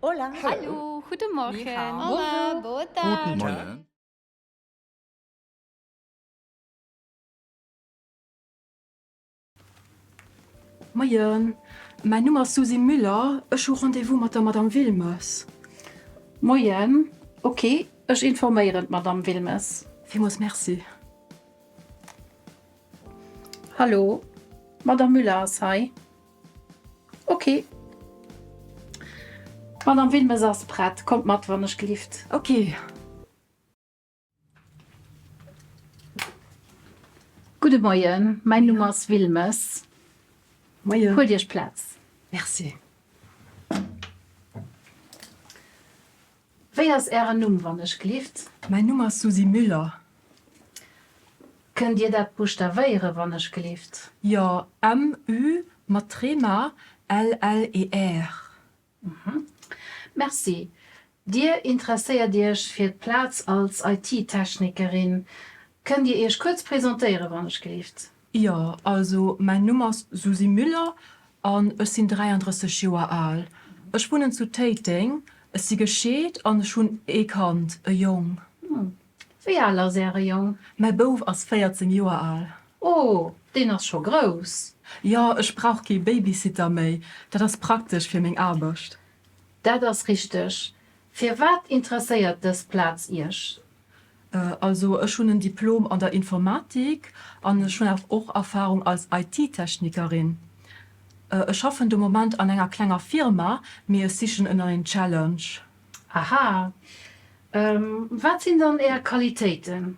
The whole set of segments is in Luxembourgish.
Hola. Hallo. Guten Morgen. Ni hao. Hola. Bonjour. Boa tarde. Guten Morgen. Moien. Mäin Numm ass Susy Müller. Ech hu Rendez-vous mat der Madame Wilmes. Moien. Ok, ech informéieren d'Madame Wilmes. Villmools Merci. Hallo. D'Madame Müller ass hei. Ok. D'Madame Wilmes ass prett. Kommt mat, wann ech gelift. Ok. Gudde Moien, mäin Numm ass Wilmes. Moien. Huelt Iech Plaz. Merci. Wéi ass Ären Numm, wann ech glift? Mäin Numm ass Susy Müller. Kënnt Dir dat buschtawéieren, wann ech glift? Jo, MU mat Trema, LLER. Mhm. Merci. Dir interesséiert Iech fir d'Plaz als IT-Technikerin. Kënnt Dir Iech kuerz presentéieren, wann ech glift? Jo, also mäin Numm ass Susi Müller an ech sinn 33 Joer al. Ech wunnen zu Téiteng. Ech si gescheet an ech hunn ee Kand, e Jong. Wéi al ass Äre Jong? Mäi Bouf ass 14 Joer al. Oh, deen ass scho grouss. Jo, ech brauch kee Babysitter méi. Dat ass praktesch fir meng Aarbecht. Dat ass richteg. Firwat interesséiert dës Plaz Iech? Also ech hunn en Diplom an der Informatik an ech hunn awer och Erfarung als IT-Technikerin. Ech schaffen de Moment an enger klenger Firma, mee ech sichen en neien Challenge. Aha. Wat sinn dann Är Qualitéiten?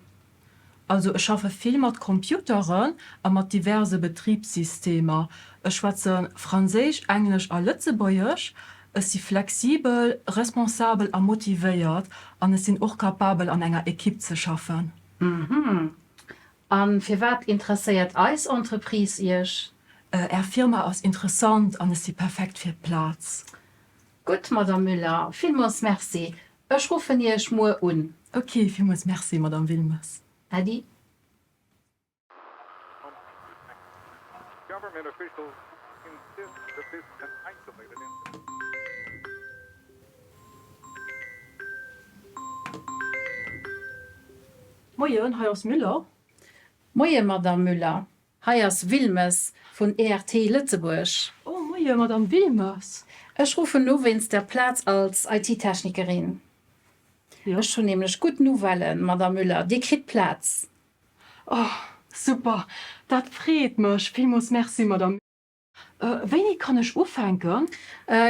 Also ech schaffe vill mat Computeren a mat diverse Betribssystemer. Ech schwätze Franséisch, Englesch a Lëtzebuergesch. Ech si flexibel, responsabel a motivéiert an ech sinn och kapabel an enger Ekipp ze schaffen. Uhmm. A firwat interesséiert eis Entreprise Iech? Är Firma ass interessant an ech si perfekt fir d'Plaz. Gutt, Madame Müller, villmools Merci. Ech ruffen Iech muer un. Ok, villmools Merci, Madame Wilmes. Äddi. Moien, hei ass Müller. Moien, Madamm Müller. Hei ass Wilmes vun ERT Lëtzebuerg. Oh, moien, Madamm Wilmes. Ech ruffen u wéinst der Plaz als IT-Technikerin. Ech hunn nämlech gutt Nouvellen, Madamm Müller, Dir kritt d'Plaz. Oh super, dat freet mech villmols, merci Madame. Wéini kann ech ufänken?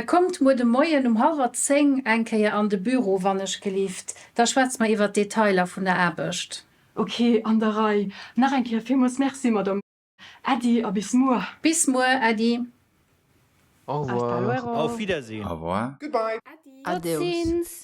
Kommt muer de Moien um halwer zéng eng Kéier an de Büro wannechgelift, da schwätze mer iwwert d'Detailer vun der Aarbecht. Ok, an der Rei. Nach eng Kéier villmols merci Madame. Äddi a bis muer. Bis muer, äddi. Au revoir. Auf Wiedersehen. Au revoir. Goodbye. Adios.